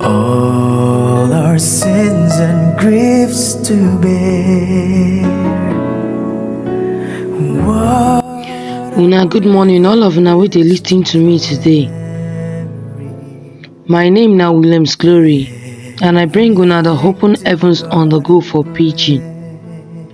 All our sins and griefs to bear. What Una good morning all of una wey dey lis ten to me today. My name na Williams Glory and I bring una the open heavens on the go for pidgin.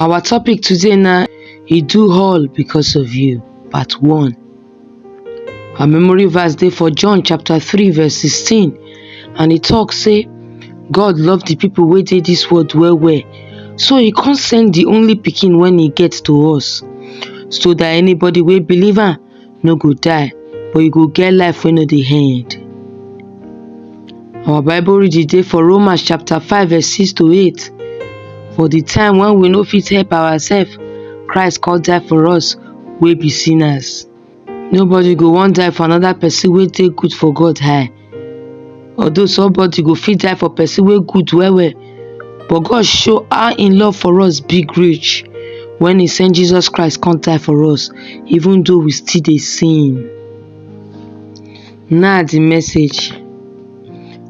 Our topic today na e do all because of you part one. Our memory verse dey for John chapter three verse sixteen and e talk say God love the people wey dey this world well well so e come send the only pikin wey e get to us so that anybody wey believe am no go die, but you go get life wey no dey end. Our bible reading dey for Romans chapter five verse six to eight. For the time when we no fit help ourselves, Christ come die for us wey be sinners. Nobody go wan die for another person wey dey good for God eye. Although somebody go fit die for person wey good well well, but God show how im love for us big reach when he send Jesus Christ come die for us even though we still dey sin. Na the message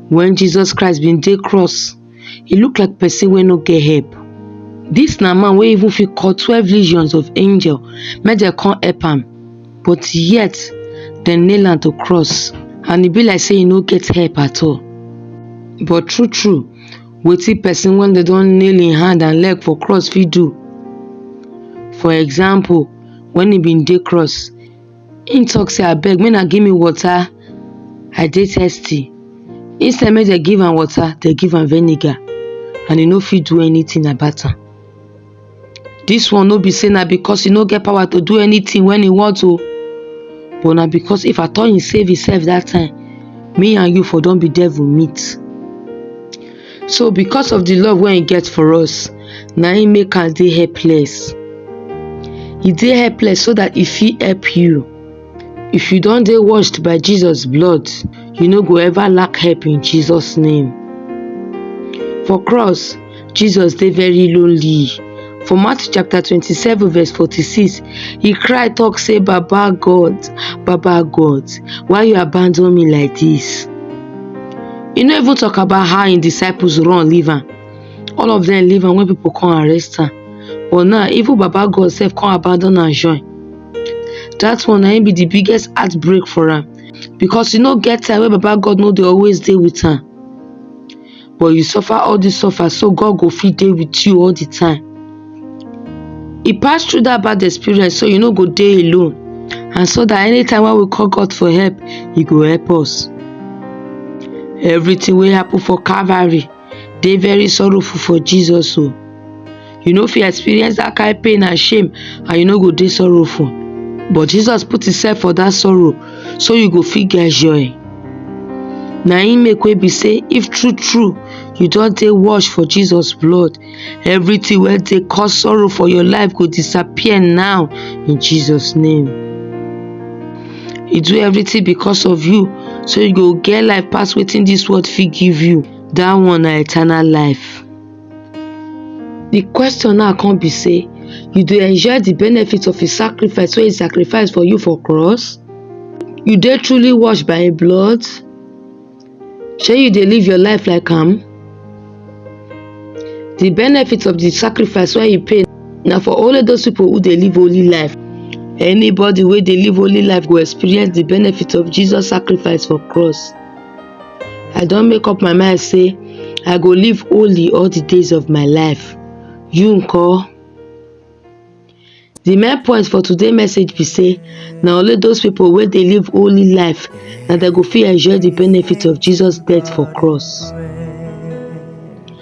when Jesus Christ bin dey cross, e look like person wey no get help this na man wey even fit call twelve legions of angel make dem come help am but yet dem nail am to cross and e be like say e no get help at all but true true wetin person wey dem don nail im hand and leg for cross fit do for example when e bin dey cross Im talk say abeg make na give me water I dey thirsty instead make dem give am water dem give am vinegar and e no fit do anything about am this one no be say na because e no get power to do anything when e want o but na because if at all e save himself that time me and you for don be devil meet So because of the love wey he get for us, na him make am dey helpless. He dey helpless so that he fit help you. If you don dey washed by Jesus blood, you no go ever lack help in Jesus name. For cross, Jesus dey very lonely For Matthew chapter 27 verse 46, he cried, talk say, Baba God, Baba God, why you abandon me like this? He no even talk about how his disciples run leave am. All of them leave am when people come arrest am. But now, even Baba God sef come abandon am join. That one na him be the biggest heartbreak for am because e no get time wey Baba God no dey always dey with am. but you suffer all this suffer so God go fit dey with you all the time. He pass through that bad experience so you no go dey alone and so that anytime when we call God for help, He go help us. Everything will happen for Calvary They very sorrowful for Jesus o. Oh. you no fit experience dat kain pain and shame and you no go dey sorrowful but Jesus put himself for dat sorrow so you go fit get joy na im make wey be say if true true you don dey wash for Jesus blood everything wey dey cause sorrow for your life go disappear now in Jesus name he do everything because of you so you go get life pass wetin dis world fit give you dat one na eternal life Di question now come be sey, you dey enjoy di benefit of im sacrifice wey e sacrifice for you for cross? You dey truly washed by im blood? Shey you dey live your life like am? Di benefit of di sacrifice wey e pay na for only those pipo wey dey live holy life. Anybody wey dey live holy life go experience di benefit of Jesus sacrifice for cross. I don make up my mind say I go live holy all the days of my life. You nko? The main point for today message be say na only those people wey dey live holy life na dem go fit enjoy the benefit of Jesus death for cross.